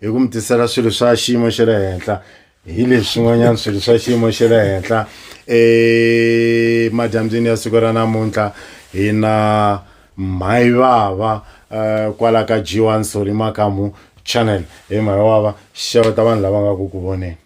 hi ku mi tisela swilo swa xiyimo xa le henhla hi leswi swin'wanyana swilo swa xiyimo xa le henhla emadyambyini ya siku ra namuntlha hi na mhayivava um eh, kwala ka g one sori makamu channel hi mhayivava xeweta vanhu lava nga ku ku voneni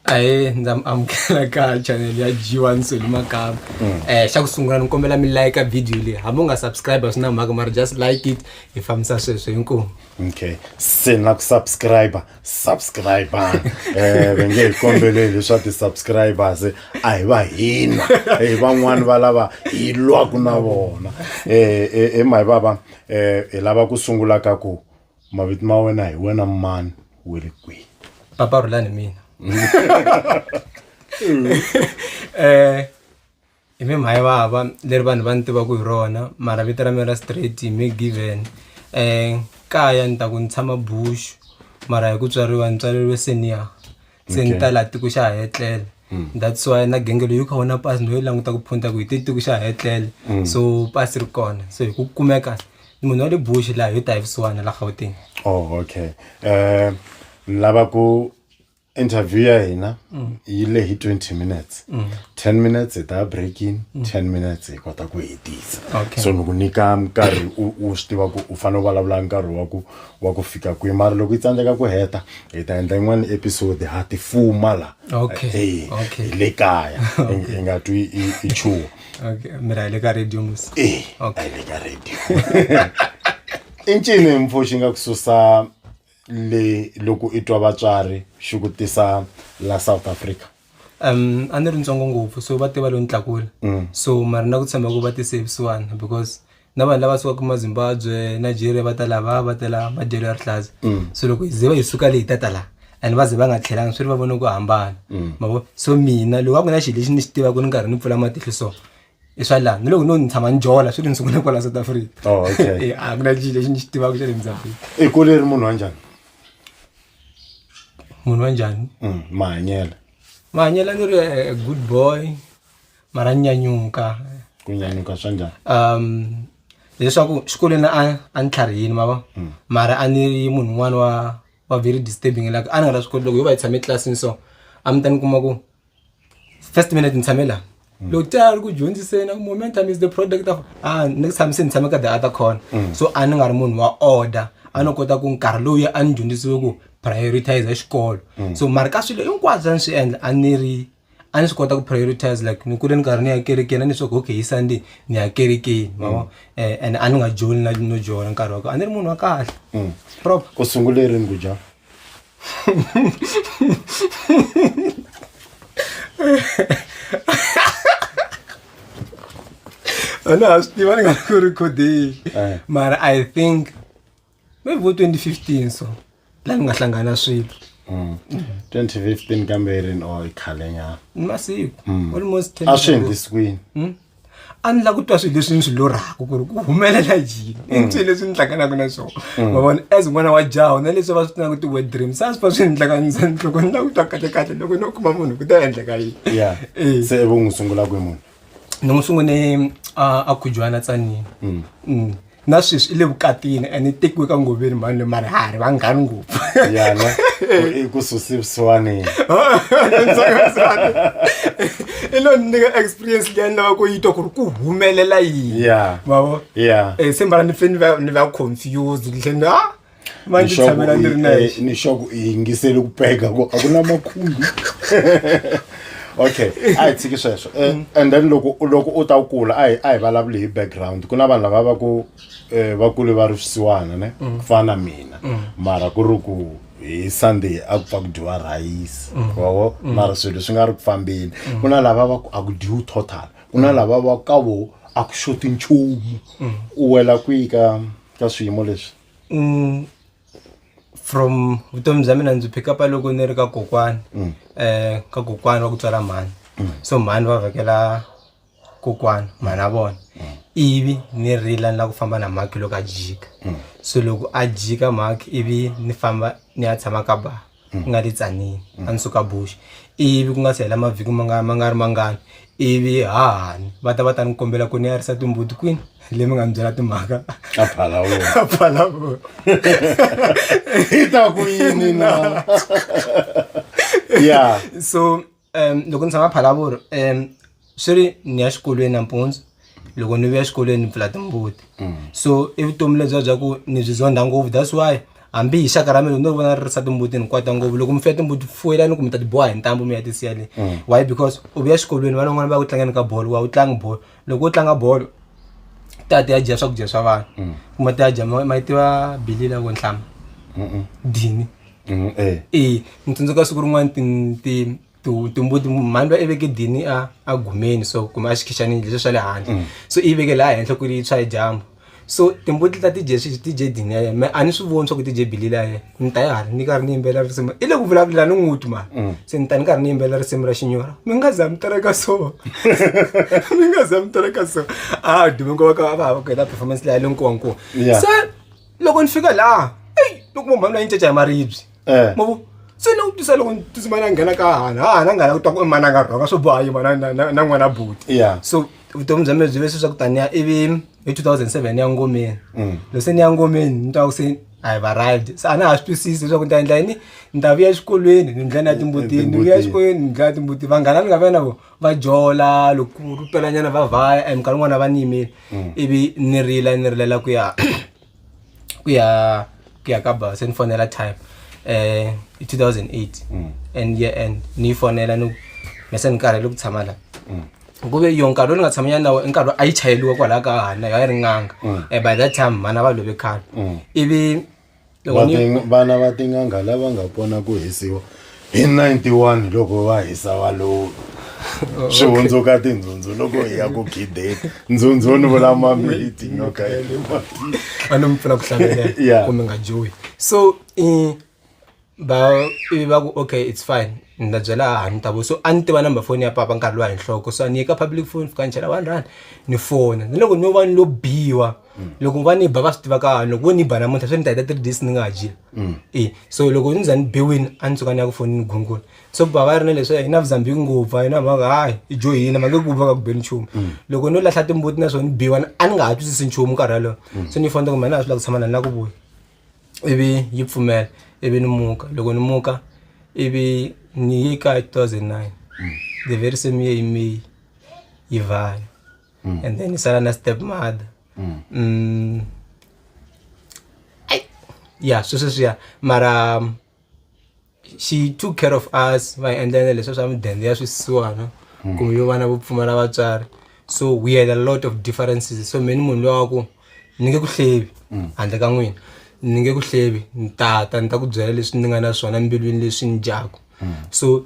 ahee ndza mi amukela ka chanel ya g1 soli makama um xa ku sungula ni kombela mi layika video leyi hambi u nga subscribe a swi na mhaka mara just like it hi fambisa sweswo hinkwavo okay se na ku subscriber subscriber eh ve nge hi kombeleli leswa ti-subscribers a hi va hina hi van'wani va lava hi lwaku na vona um e mahi vava um hi lava ku sungula ka ku mavito ma wena hi wena mani we ri kwihi papa rhulani mina um hi mi mhayi vava leri vanhu va ni tivaku hi rona mara vito ra mina ra straight hi mi given um kaya ni ta ku ni tshama bush mara hi ku tswariwa ni tswaleriwe senior se ni ta laha tiko xa ha etlele hmm. that's why na genge leyi u kha wona pasi no yi languta ku phunta ku hi te tiko xa ha etlele hmm. so pasi ri kona so hi ku kumeka munhu wa le bush laha yo ta hi vusiwana la gauteng oh okay um ni lava ku interview ya hina hmm. yi lehi 20 minutes 10 minutes hi ta break in 10 minutes hi kota ku hetisa so ni ku nyika nkarhi u swi tiva ku u fanele u vulavula nkarhi wa ku wa ku fika kwihi mara loko yi tsandzeka ku heta hi ta endla yin'wana episode ha ti fuma la Okay, Eh, okay. hi le kaya hi nga twi i- i chuwa okay mi ra hi le ka radio musi Eh, Okay. a yi le ka radio i ncini mpfo xi nga ku susa le loko i twa vatswari xi ku tisa la south africa um a ni ri ntsongo ngopfu so va te va lo ni tlakula mm. so mara na ku tshemba ku va ti savisiwana because na vanhu lava sukaka mazimbabwe nigeria va ta lava va ta laha madyelo ya rihlaza mm. so loko hi ze va hi suka leyi tata laha and va ze va nga tlhelanga swi ri va vone ku hambana mm. mavo so mina loko a ku na xilo lexi ni xi tivaka ni karhi ni pfula matihlo so i swa laha ni loko no ni tshama ni jola swi ri ni sungula kwala south africa oh, a ku na xilo lexi ni xi tivaka xa le mzambiki i kule ri munhu wa njhani munhu wa njhani Mm, mahanyelo mahanyelo a ni ri a- a good boy mara ni nyanyuka ku nyanyuka swa njhani um leswaku xikolweni a a ni tlharihini ma va mara a ni ri munhu un'wana wa wa very disturbing like a ni nga la swi koti loko yo va yi tshame etlilasini so a mi ta ni kuma ku first minute ni tshame la loko ti a ri ku dyondziseni momentum is the product of ah next time se ni tshame ka the other corner so a ni nga ri munhu wa order a no kota ku nkarhi lowu a ni dyondzisiwe ku prioritize xikolo so mara ka swilo hinkwaswo a ni swi endla a ni ri a ni swi kota ku prioritize like ni kule ni karhi ni ya kerekeni a ni swaku okay hi sunday ni ya kerekeni ma vo Eh, and a ni nga joli na no jola nkarhi wa ko a ni ri munhu wa kahle proper ku sungule rini ku dya Ana ha swi tiva ni nga ku recording eh. mara i think maybe vo 2015 so laha ni nga hlangana swilo 2015 kambe ri ri khalenyana masiku almost a swi endlisikwini a ni la ku twa swilo leswi ni swi lorhaka ku ri ku humelela yini i ni swilo leswi ni hlanganaka na swona ma vona as n'wana wa jaha na leswi va swi tivaka ti-word dreams a swi va swi ni hlanganisa ni loko ni la ku twa kahle kahle loko no kuma munhu ku ta endleka yini ya Eh. se ivo n'wi sungula kwi munhu ni n'wi sungune a a khujwana tsanini Mm. na sweswi i le vukatini and i tekiwe ka ngoveni mhani leyi mara ha ri vanghani ngopfu yana i ku susi vusiwaneni i lo ni nyika experience leyi a ni lava ku yi twa ku ri ku humelela yini Yeah. mavo Yeah. Eh, se mbala ni fe ni va ni va confused ni tlhe ni ah va ndzi Nixaku tshamela ndzi ri i- nexe eh, nixaku i yingiseli ku peka ku a ku na makhumbi okay a hi tshiki sweswo Eh, and then loko loko u ta kula a hi a hi vulavuli hi background ku na vanhu lava va ku eh, va kule va ri swisiwana ne ku fana na mina mara ku ri ku hi sunday a ku pfa ku dyiwa rhayisi wavo mara swilo swi nga ri ku fambeni ku na lava va ku a ku dyiwi total ku na lava va ku ka vo a ku xoti nchumu u wela kwihi ka ka swiyimo leswi Mm, from vutomi bya mina ndzi pick up loko ni ri ka kokwani um ka kokwani wa ku tswala mhani so mhani va vhakela kokwani mhani a vona ivi ni rila ni la ku famba na mhaki loko a jika so loko a jika mhaki ivi ni famba ni ya tshama ka ba mm. ku nga ri tsanini mm. a ni suka bush ivi ku nga si hela mavhiki ma nga ma nga ri mangani ivi hahani va ta va ta ni kombela ku ni yarisa timbuti kwini le mi nga ni byela timhaka aphalawoaphalawoita ku yini na ya so um loko ni tshama Phalaborwa um swi ri ni ya xikolweni nampundzu loko ni vuya xikolweni ni pfula timbuti mm. so i vutomi lebyiya bya ku ni byi zonda ngopfu that's why hambi hi xaka ra mina ni ri vona ri risa timbuti ni kwata ngopfu loko mi fuya timbuti fuwela ni ku mi ta ti boha hi ntambu mi ya ti siya le mm. why because u vuya xikolweni vana van'wana va ku tlangeni ka bolo wa u tlangi bolo loko wo tlanga bolo ti ya ti ya dya swakudya swa vanhu mm. kuma ti ya dya ma yi tiva bili la ko nhlama dini mm, eh. e ni tsundzuka siku rin'wana timbuti mhani va iveke dini a a gumeni so kumbe a xikhichani leswi swa le handle mm. so i yiveke laha henhla ku ri tshwa hi dyambu so timbuti ta dj sweswi ti dye dini ya yena me a ni swi voni swa ku ti dye bili la yena ni ta ya hala ni karhi ni yimbelela risimu i le ku vulavula ni n'wuti mani mm. se ni ta ni karhi ni yimbelela risimu ra xinyora mi nga za mi tereka so mi nga za mi tereka so a dume nkoka ka va va ku heta performance leya le nkowankowa se loko ni fika laha eyi loko mhani la yi ncaca hi maribye Eh. ma vo se ni vutisa loko tsimana a nghena ka hahana hahana a nghena ku twa ku mana a nga rhonga swo boha yima na- na na- na n'wana buti Yeah. so vutomi bya mina byi ve swi swa ku taniya ivi hi 2007 ni ya ngomeni Mm. loko se ni ya ngomeni ni twa ku se i have arrived se a na ha swi twisisi leswaku ni ta endla yini ni ta vuya exikolweni ni ndlela ya timbutini ni vuya Timbutini. exikolweni ni ndlela ya timbuti vanghana ni nga va na vo va jola loko ku pelanyana va vhaya and minkarhi yin'wana va ni yimile ivi ni rila ni rilela ku ya ku ya ku ya ka ba se ni fonela time eh i 2008 mm. and year end ni fonela ni me se ni karhele ku tshama la mm. ku ve yo nkarhi lowu ni nga tshamanyana nawo i nkarhi a yi chayeliwa kwalaho ka hana yo a yi ri nganga mm. eh, by that time vana va love khale ivi vana va tin'anga lava nga pona ku hisiwa hi 91 loko va hisa valovi swi hundzuka tindzhundzhu loko hi ya ku gideni ndzhundzhu ni vula mamiti nyoka ya le matini a ni mi pfuna ku hlavelela Yeah. kumbe nga joyi so eh, ba ivi va ku okay it's fine ni ta byela ha ni ta vo so a ni tiva number phone ya papa nkarhi lowa hi nhloko so a ni ye ka public phone fika ni chela one rand ni fona ni loko ni yo va ni lo biwa mm. loko va ni ba va swi tiva ka loko vo ni ba namuntlha swi ni ta heta three days ni nga ha jile mm. e so loko ni za ni biwini a ni tsuka ni ya ku fonini gungula so ba va ri na leswi hi na vuzambiki ngopfu a yi na mhaka hayi i jo hina ma nge ku va ka ku beni nchumu mm. loko no lahla timbuti na swona ni biwa a ni nga ha twisisi nchumu nkarhi yalowo so ni fonta ku mina a swi lava ku tshama na ni la ku vuya ivi yi pfumela ivi ni muka loko ni muka ivi ni ye ka two thousand nine the very same year hi may yi vaya mm. and then isala na step mother mm. Mm. yeah sweswo swiya mara um, she took care of us va endlela leswi swa midende ya swisiwana mm. kumbe yo vana vo pfumala vatswari so we had a lot of differences so meni munhu lowa ku ni nge ku hlevi mm. handle ka n'wina ni nge ku hlevi ni tata ni ta ku byela leswi ni nga na swona mbilwini leswi ni dyaku mm. so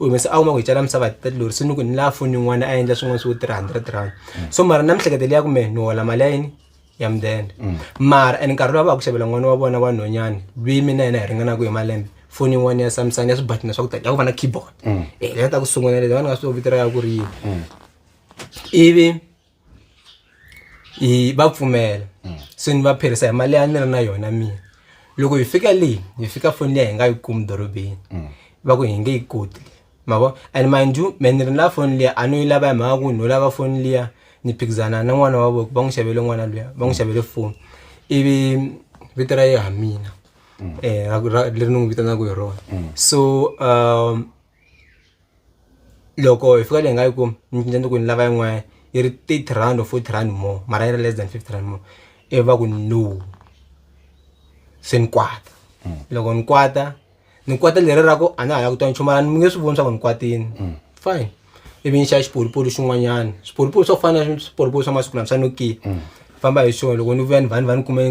u humese a kuma ku hi cala misava hi thirty lori se ni ku ni lava foni yin'wana a endla swin'wana swo three hundred rand so mara na mihlekete leyi ya kume ni hola mali ya yini ya mudende mara and nkarhi lowu va ku xavela n'wana wa vona wa nhonyani lweyi mina yena hi ringanaka hi malembe foni yin'wana ya samsung ya swibatina swa ku tala ya ku va na keyboard eh leyi ta ku sungula leyi va ni nga swi vito ra ya ku ri yini ivi hi va pfumela mm. so ni va pherisa hi mali ya ni ri na yona mina loko hi fika leyi hi fika foni liya hi nga yi kumi dorobeni mm. va ku hi nge yi koti ma vo and mind you me ni ri na foni liya a no yi lava hi mhaka ku no lava foni liya ni phikizana na n'wana wa voko va n'wi xavele n'wana luya va n'wi mm. xavele foni ivi vito ra ye ha mina um leri ni n'wi vitanaka hi rona so um loko hi fika leyi nga yi kumi ni cinca ni ku ni lava yin'wanyana yi ri thirty rand or fourty rand more mara yi ri less than fifty rand more ivi va ku no se ni kwata loko ni kwata ni kwata leri ra ku a na ha la ku twa nchumu mara ni nge swi voni swa ku ni kwatile fine ivi ni xava xipolipoli xin'wanyana swipolipoli swa ku fana na swipolipoli swa masiku lama swa Nokia famba hi xona loko ni vuya ni vha ni va ni kume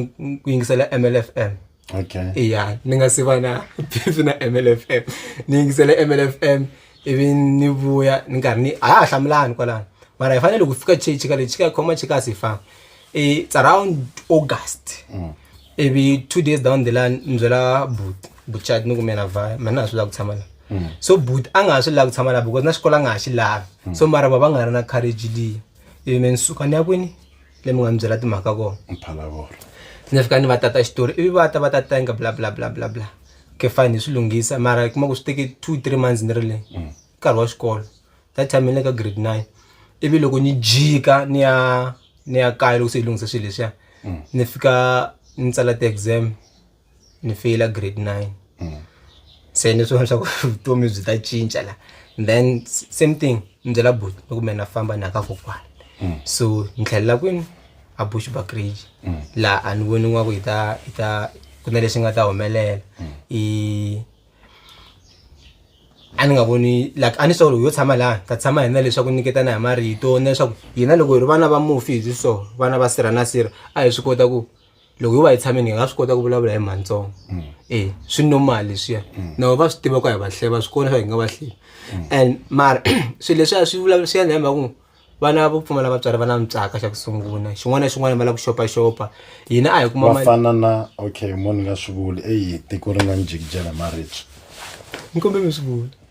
ku yingisela M_L_F_M. okay ya ni nga si va na beef na mlfm ni yingisele mlfm ivi ni vuya ni karhi ni a ha ha hlamulani kwalano mara hi fanele ku fika chechi ka lexi ka khoma chekas hi famba it's around august mm. ivi two days down the line ni byela but buchat ni kumena vaya mani na ha swi lava ku tshama la mm. so but a nga ha swi lava ku tshama la because na xikolo a nga ha xi lavi mm. so mara va va nga ri na courage leyi ivi me ni suka ni ya kwini leyi mi nga ni byela timhaka kona mphalavoro ni fika ni va tata xitori ivi va ta va ta tenga bla bla bla bla bla ke fine hi swi lunghisa mara kuma ku swi teke two three months ni ri le mm. nkarhi wa xikolo that time ni le ka grade nine ivi loko ni jika ni ya ni ya kaya loko se hi lunghisa swilo leswiya mm. ni fika ni tsala ti-exam ni feyila grade nine mm. se ni swona swa ku vutomi byi ta cinca la then same thing ni byela bush ni kumbe na famba na ka kokwana mm. so ni tlhelela kwini a bush bakrage mm. laha a ni voni n'wa ku yi ta yi ta ku na lexi nga ta humelela i a ni nga voni like a ni solo yo tshama laha ta tshama hina leswaku nyiketana hi marito na leswaku hina loko hi ri vana va mufi hi byi so vana va sirha na sirha a hi swi kota ku loko yo va yi tshameni hi nga swi kota ku vulavula hi mhantsongo mm. e eh, swi normal leswiya mm. na va swi tiva ku hi va hleva va swi kona swa hi nga va hleva mm. and mara swilo leswiya swi vulavula swi endla hi mhaka ku vana vo pfumala vatswari va na mitsaka xa ku sungula xin'wana na xin'wana va lava ku xopaxopa hina a hi kuma va fana na okay mo ni nga swi vuli eyi tiko ri nga ni jikijela maribye ni kombe mi swi vula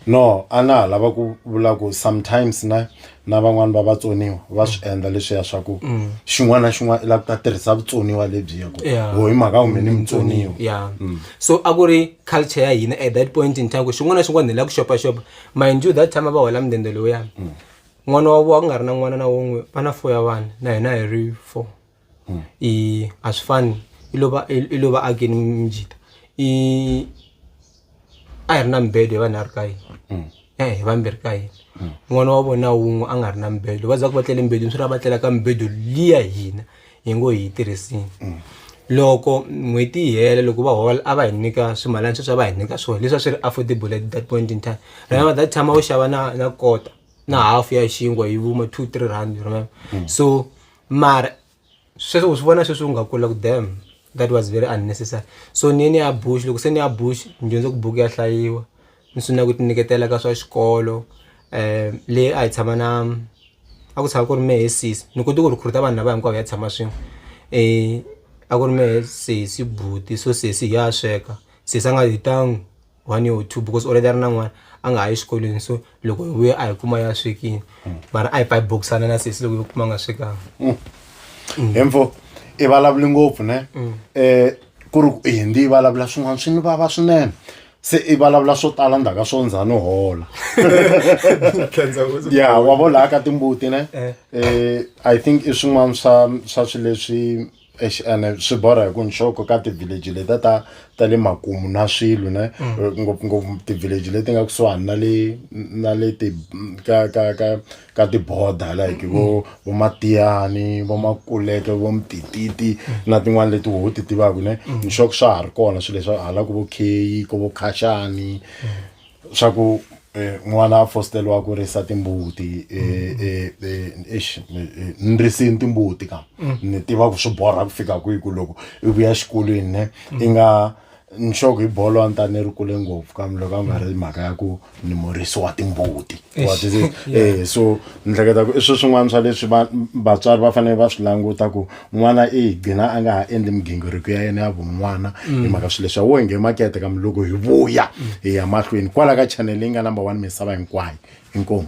no a na ha lava ku vula ku sometimes na na van'wani va vatsoniwa va swi mm. endla leswiya swa ku mm. xin'wana na xin'wana i lava ku ta tirhisa vutsoniwa lebyiya ku ho hi mhaka kumbe ni mutsoniwa ya mm. so a ku ri culture ya hina at that point in time ku xin'wana na xin'wana ni lava ku xopaxopa mind you that time a va hola mudende lowuyani n'wana wa ku nga ri na n'wana na wun'we va na four ya vana na hina hi ri four i a swi fani i lova i lova a ke ni mijita i a hi ri na mibedo hi vanhu a ri ka yini mm. e hi vambirhi ka yini mm. n'wana wa vona wun'we a nga ri na mibedo va za ku va tlele mibedweni swi ra va tlela ka mibedo liya hina hi ngo hi yi tirhisini mm. loko n'hweti yi hela loko va hola a va hi nyika swimalana sweswi a va hi nyika swona leswi a swi ri affordable at that point in time remember that time a wu xava na na kota na half ya xinkwa yi vuma two three rand remember so mara sweswi u swi vona sweswi u nga kula ku dam that was very unnecessary so ni ye ni ya Bush loko se ni ya Bush ni dyondze ku buku ya hlayiwa ni sungula ku ti nyiketela ka swa xikolo le a hi tshama na a ku tshama ku ri mehe sesi ni kote ku recruit vanhu lava hinkwavo hi ya tshama swin'we a ku ri mehe sesi buti so sesi hi ya sweka sesi a nga hi . one year or two because already a ri na n'wana a nga ha yi xikolweni so loko hi vuya a hi kuma ya swekini mara a hi pfa hi bokisana na sesi loko yi kuma a nga swekanga hemfo i vulavuli ngopfu ne um ku ri ku i hindi yi vulavula swin'wana swi ni vava swinene se i vulavula swo tala ndzhaka swo ndza no hola ya wa volaka timbuti ne Eh. um i think i swin'wana swa swa swi leswi Eish, ene swi borha hi ku nxoko ka ti-village letiya ta ta le makumu na swilo ne ngopfungopfu ti-village leti nga kusuhani na le na le ti ka ka ka ka ti-border like vo vo matiyani vo makuleke vo mtititi na tin'wani leti wo ti tivaku ne nxoko swa ha ri kona swi leswa hala ku vo kheyi ko vo khashani swa ku eh, n'wana a fosteriwa ku risa timbuti eh, eh, eh, eish, eh, eh, ni risini timbuti ka ni tiva ku swi borha ku fika kwihi ku loko i vuya xikolweni ne i nga nxoko hi bolo a ni ta ni ri kule ngopfu kambe loko a nga ri mhaka ya ku ni murisi wa timbuti wa Eish, tivi yeah. eh so ni hleketa ku i swi swin'wana swa leswi va- vatswari va fanele va swi languta ku n'wana i gcina a nga ha endli migingiriko ya yena ya vun'wana Mm. hi mhaka swilo leswi wo nge makete ka muloko hi vuya hi ya mahlweni kwala ka channel leyi nga number one misava hinkwayo inkomu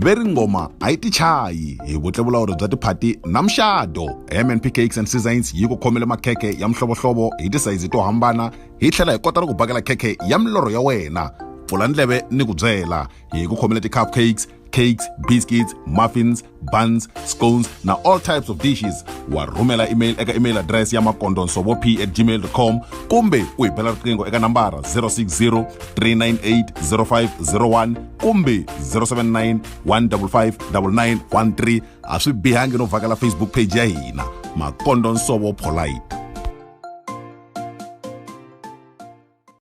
ve ri ngoma a yi tichayi hi vutlevulawuri bya tiphati na muxado mnp cakes and seasons yi ku khomele makhekhe ya mihlovohlovo hi tisayizi to hambana hi tlhela hi kota ni ku bakela khekhe ya milorho ya wena pfula ndleve ni ku byela hi ku khomele ti-cup cakes cakes biscuits muffins buns scones na all types of dishes wa rhumela email eka email address ya makondonsovo p at gmail com kumbe u hi bela riqingho eka nambara 060 398 0501 kumbe 079 155 9913 a swi bihangi no vhakela facebook page ya hina makondonsovo polite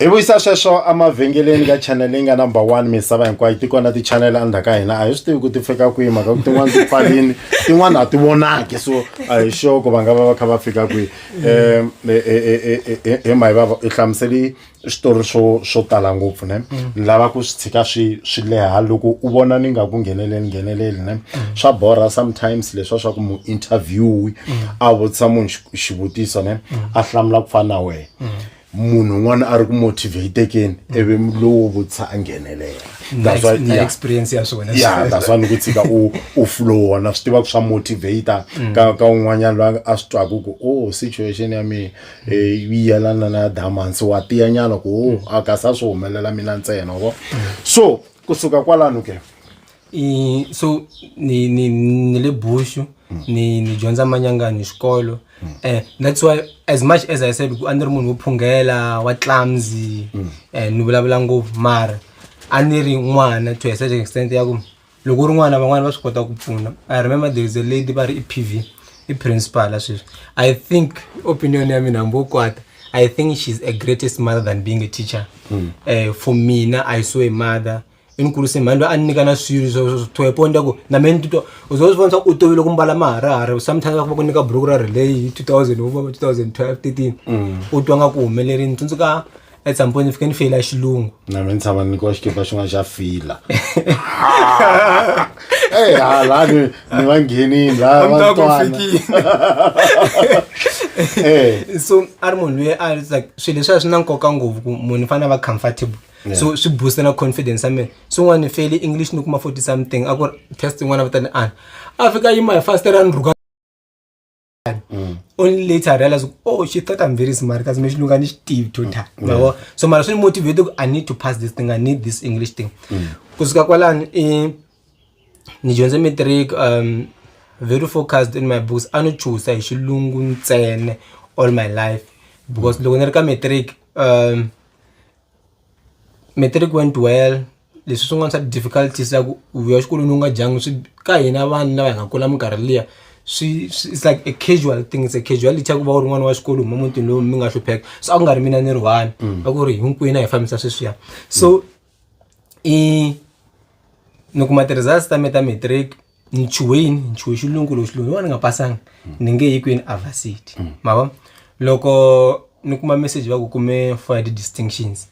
hi vuyisa sweswo emavhengeleni ka channel leyi nga number one misava hinkwayo ti kona ti-channel andha ka hina a hi swi tivi ku ti fika kwihi mhaka ku tin'wana ti pfalini tin'wana a ti vonaki so a hi sure ku va nga va va kha va fika kwihi um hi mahi vava hi hlamuseli switori swo swo tala ngopfu ne mm. ni lava ku swi tshika swi swi leha loko u vona ni nga ku ngheneleli ngheneleli ne mm. swa borha sometimes leswa swa ku mu interviewi mm. a vutisa munhu xivutiso ne a hlamula ku fana na wena munhu un'wana a ri ku motivatekeni ivi lowo vutisa a nghenelela that's why yeah. experience ya swona yeah that's why ni ku tshika u u flow wona swi tiva ku swa motivator mm. ka ka un'wanyana loyi a swi twaku ku oh situation ya mina yi yelana na diamonds wa tiya nyana ku o a ka sa swi humelela mina ntsena vo so kusuka kwalano ke I- so ni ni ni le bushu ni ni dyondza manyangani xikolo eh that's why as much as i said ku a ni ri munhu wo phunghela wa clumsy eh ni vulavula ngopfu mara a ni ri n'wana to a certain extent ya ku loko u ri n'wana van'wana va swi kota ku pfuna i remember there is a lady va ri i pv i principal sweswi i think opinion ya mina hambi wo kwata i think she's a greatest mother than being a teacher mm. uh, for mina i saw a mother inkulise mhani loyi a ni nyika na swilo swithoeponda ku na mina titwa u zo swi vona swa u tovile ku mbala maharahara sometimes va ku nyika buruku ra relay hi 2000 wo va 2012 13 u twa nga ku humeleri ni tsundzuka at some point ni fike ni feyila xilungu na mi ni tshama ni nyikiwa xikipa xin'wana xa fila eyi hala ni ni va nghenini la va Hambi twana ku fikile. Eh, so a ri munhu loyi a ri like swilo leswi a swi na nkoka ngopfu ku munhu i fanele a va comfortable so swi booster na confidence ya mina swin'wana ni feli english ni kuma forty something a ku ri test yin'wana va ta ni ana a fika yima hi fast ra ni rhuka mm. only later i realize oh she thought i'm very smart kasi me xilungu a ni xi tivi to ta mm. yabo so mara swi ni motivate ku i need to pass this thing i need this english thing mm. ku suka kwalani i ni dyondze matric um very focused in my books a ni chusa hi xilungu ntsene all my life because loko ni ri ka matric um matric went well leswi swin'wana swa difficulties ku u vuya exikolweni u nga dyanga swi ka hina vanhu lava hi nga kula minkarhi liya swi swi it's like a casual thing it's a casuality ya ku va u ri n'wana wa xikolo u huma mutini lowu mi nga hlupheka se a ku nga ri mina ni ri one a ku ri hinkwenu a hi fambisa sweswiya so i ni kuma ti-results ta me ta matric nchuhe yini nchuhe xilungu loko xilungu yin'wana ni nga pasanga ni nge yi kwini avasity ma vo loko ni kuma message va ku kume for the distinctions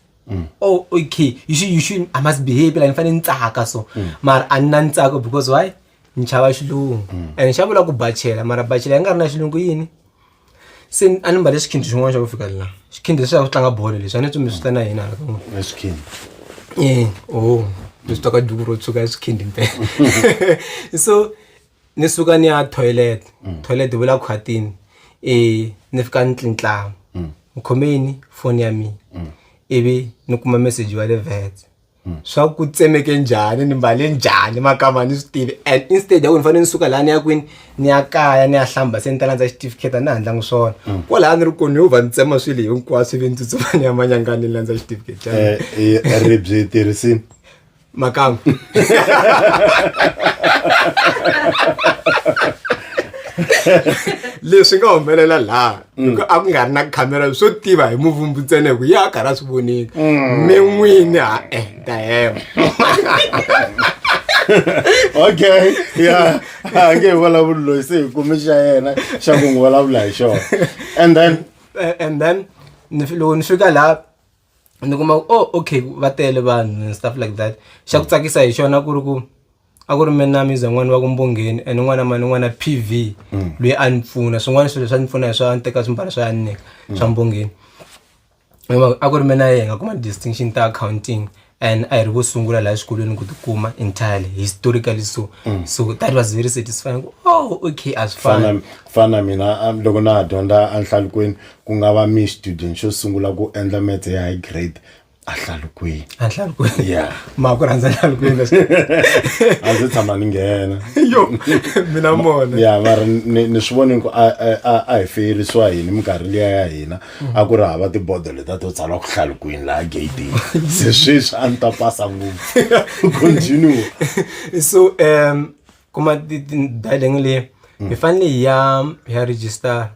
oh okay you should, you should, i must behave like ni fanele ni tsaka so mara a ni na ni tsako because why ni chava xilungu and xa vula ku bachela mara bachela yi nga ri na xilungu yini se a ni mbale xikhindi xin'wana xa ku fika la xikhindi leswi ya ku tlanga bolo leswi a ni tsumi swi ta na yena hala kan'we na xikhindi e o ni swi twaka duku ro tshuka xikhindi mpela so ni suka ni ya toilet mm. toilet vula khwatini um ni fika ni tlintlamu mm. ni khome yini foni ya mina mm. ivi ni kuma meseji wa le vets hmm. swa ku tsemeke njhani ni mbale njhani makama ni swi tivi and instead ya ku ni fanele ni suka laha ni ya kwini ni ya kaya ni ya hlamba se ni ta landza xitifiketi a ni handlangi swona hmm. kwalaha ni ri koni yo va ni tsema swilo hinkwaswo ivi ni tsutsuma ni ya manyangani ni landza xitifiketi eh, eh, ribyi tirhisini makama leswi nga humelela laha Mm. a ku nga ri na khamera swo tiva hi muvumbi ntsena ku ya karhi a swi vonile mm. mi n'wini ha e ta hema okay ya a nge hi vulavuli loyi se hi kumi xa yena xa ku n'wi vulavula hi xona and then eh, and then loko ni fika laha ni kuma ku oh okay va tele vanhu and stuff like that xa ku tsakisa hi xona ku ri ku a ku ri mina na miza n'wana wa ku mbongeni and n'wana mani n'wana p v mm. loyi a ni pfuna swin'wana swilo swa ni pfuna hi swa a ni teka swimbalo swa ya ni nyika mm. swa mbongeni a ku ri mina ye hi nga kuma distinction ta accounting and a hi ri vo sungula laha xikolweni ku tikuma entirely historically so mm. so that was very satisfying oh okay a swi fana fana mina loko na ha dyondza enhlalukweni ku nga va mi student xo sungula ku endla metse ya high grade ahlalukweni ahlalukweni ya ma ku rhandza ahlalukweni a ndzi tshama ni nghena yo mina mona ya mara ni swi voni ku a hi feyerisiwa yini minkarhi liya ya hina a ku ri hava tibodo leta to tsala ku hlalukweni laha gatini se sweswi a ni ta pasa ngopfu continue so um kuma dialing leyi hi fanele hi ya hi ya register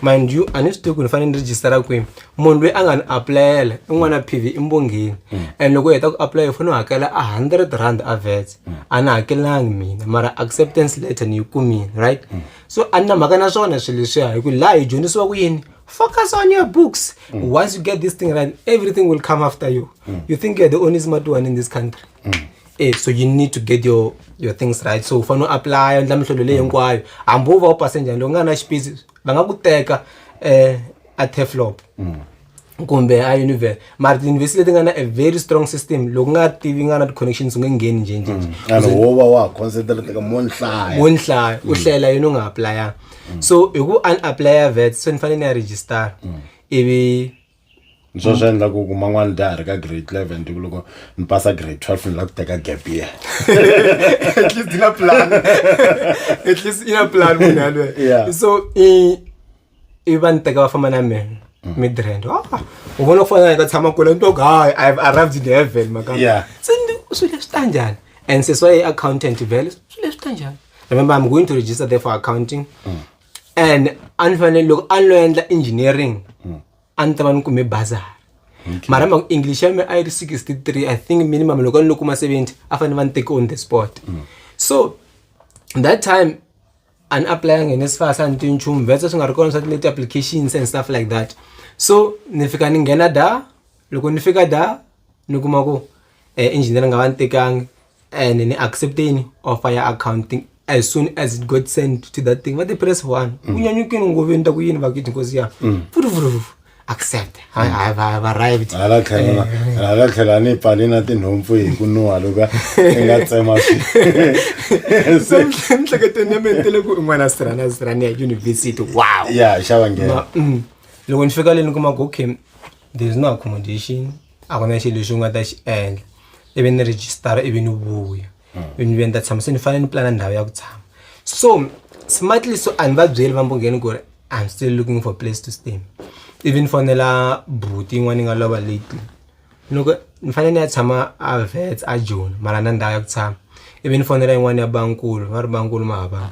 mind you a ni swi tivi ku ni fanele ni register-a kwini munhu loyi a nga ni apulayela i n'wana p v i mbongheni and loko u heta ku apulayela u fanele u hakela a hundred rand a vets a ni hakelangi mina mara acceptance letter ni yi kumile right so a ni na mhaka na swona swilo leswiya hi ku laha hi dyondzisiwa ku yini focus on your books once you get this thing right everything will come after you you think you're the only smart one in this country Eh, so you need to get your your things right so u fanele u apply u endla mihlolo leyi hinkwayo hambi u va u pase njhani loko u nga na xipisi va nga ku teka um a teflop kumbe a univer mara tiyunivhesiti leti nga na a very strong system loko u nga tivi nga na ti-connections u nge ngheni njhenjhenje and wo va wa ha concentrate-ka mo ni hlaya wo ni hlaya u hlayela yini u nga aplayanga so hi ku a ni aplaya vet se ni fanele ni ya register ivi ni swo swi endla ku ku man'wana dya ha ri ka grade eleven tiku loko ni pasa grade twelve ni la ku teka gap year at least ina plan at least ina plan munhu yalweyo so i i va ni teka va famba na mina mm. midrand ah, u vona ku fana ka tshama kule ni twaku hayi i have arrived in heaven maka se ni swi leswi ta njhani and seswa i accountant vele swi leswi ta njhani remember i'm going to register there for accounting mm. and a ni fanele loko a ni lo endla engineering hmm. a ni ta va ni kume bazar mara mhaka english ya mi a yi ri sixty three i think minimum loko a ni lo kuma seventy a fanele va ni teke on the sport hmm. so that time a ni aplayanga hi nesifas a ni ti nchumu vese swi nga ri kona swa tileti applications and stuff like that so ni fika ni nghena da loko ni fika da ni kuma ku um eh, engineering a va ni tekangi and ni accepteni offer ya accounting as soon as it got sent to that thing vati press one mm. unyanyukini ngove ni ta ku yini vakiti nkosi ya mm. futufutufufu accept mm. have arrived hala tlhela eh. hala tlhela ni pfali na tinhompfu hi ku nuha loko i nga tsema swi mihleketweni ya mina tele ku in'wana sirana sirana ya university wow ya xava nghena mm. loko ni fika le ni kuma ku okay there is no accommodation a ku na xilo lexi u nga ta xi endla ivi ni rejistara ivi ni vuya ivi ni vuya ni ta tshama se ni fanele ni pulana ndhawu ya ku tshama so smartly so a ni va byeli va mbongeni ku ri i'm still looking for place to stay ivi ni fonela buti yin'wana yi nga lova late loko ni fanele ni ya tshama a vets a joni mara na ndhawu ya ku tshama ivi ni fonela yin'wana ya bankulu va ri bankulu ma hava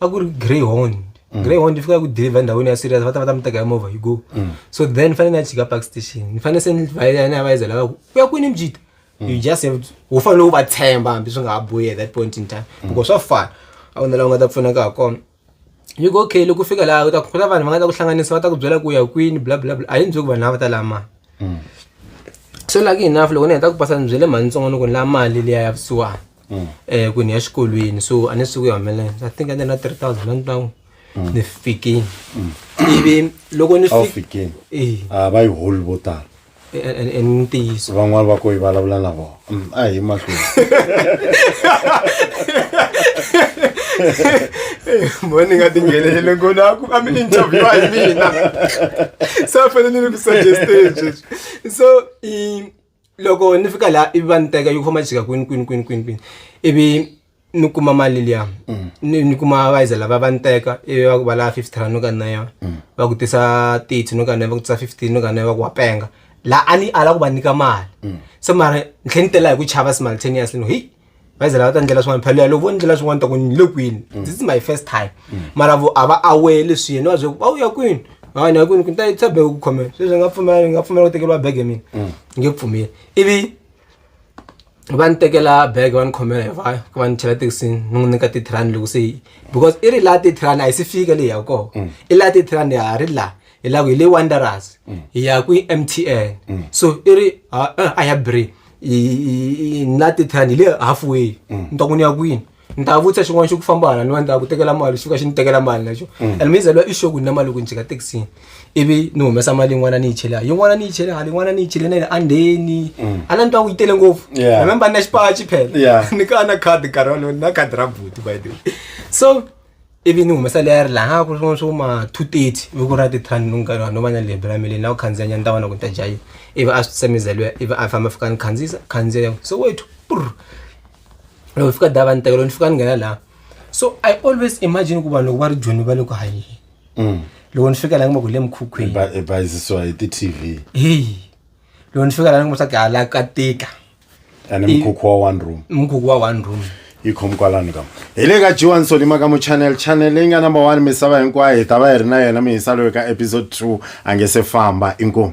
a ku ri greyhond mm. greyhond yi fika ku deliver endhawini ya serious va ta va ta mi teka hi movha yi go mm. so then ni fanele ni ya chika park station ni fanele se ni vayela ni ya vayizela va ku u ya kwini mjita mm. you just have to u fanele u va tshemba hambi swi nga ha boyi at that point in time because swa fana a ku na laha u nga ta pfunaka ha kona yi ku okay loko u fika laha u ta ku na vanhu va nga ta ku hlanganisa va ta ku byela ku ya kwini bla bla bla a yi ni byi ku vanhu lava va ta laha mali so lucky enough loko ni heta ku pasa ni byele mhani ntsongo ni ku ni laha mali liya ya vusiwana mm. eh ku ni ya xikolweni so a ni suku ya humelela i think ande na 3000 rand now mm. ni fikini mm. ivi loko ni fikini eh a va yi hol vo tala i ntiyiso van'wana va ko yi vulavula na vona mm, a hi mahlweni mo ni nga tinghenelele ngo na ku a mi interviewa hi mina so a fanele ni ku suggesteni sweswi so loko ni fika laha ivi va ni teka yi ku famba yi jika kwini kwini kwini kwini kwini ivi ni kuma mali liya mm. ni ni kuma vaiza lava va ni teka ivi va ku va lava fifty rand no ka na yona mm. va ku tisa thirty no ka na va ku tisa fifteen no ka na va ku wa penga laha a ni ala ku va nyika mali mm. se mara ni tlhe ni tela hi ku chava simultaneously no heyi bazi lava ta ndlela swin'wana phalo yalo vo ndlela swin'wana ta ku ni le kwini mm. this is my first time mm. mara vo a va aware leswi yena va byele va u ya kwini hayi ni ya kwini kunita yitisa bege ku khomela sweswi ni nga pfumela ni nga pfumela ku tekeriwa bege mina mm. ni nge pfumeli ivi va ni tekela bege va ni khomela hi vaya ku va ni chela thekisini ni n'wi nyika titirani loko se yi because i ri laha titirani a yi si fika leyi ya koho i laha titirani ya ha ri laha hi laha ku hi le wanderers hi ya kwi-m t n so i ri a ya bri na tithani hi le halfway mm. ni ta ku ni ya kwini ni ta vutisa xin'wana xo ku famba hala ni va ni ta ku tekela mali xi fika xi ni tekela mali naxo mm. and mizalwa i xoku ni na mali loko ni jika taxini ivi ni humesa mali yin'wana ni yi chele hala yin'wana ni yi chele hala yin'wana ni yi chele na yile andheni mm. a na ni twa ku yi tele ngopfu remember ni na xipachi phela ni ka na khadi nkarhi walowo ni na khadi ra buti by the way so ivi ni humesa leyi a ri laha ku ri swin'wana swo ma two thirty voko ra tithani ni nkarhi no va na lebyi ra mileni na ku khandziya nyana ta vona ku ta dya yini ivi a swi tsemeza luya ivi a famba fika ni khandziyisa khandziya so wethu purr loko fika dava ni tekelo ni fika ni nghena laha so i always imagine ku vanhu loko va ri joni va le ku hanyeni mm. loko ni fika laha ngimaka le mukhukhwini hi ti-tv heyi loko ni fika laha ni ngimaka swa ku hala ka tika ane mukhukhu wa one room mukhukhu wa one room yi khomi kwalano kama hi le ka jiwani solima ka muchannel channel leyi nga number one misava hinkwayo hi ta va hi ri na yena mihisa loyi ka episode two a nge se famba inkomu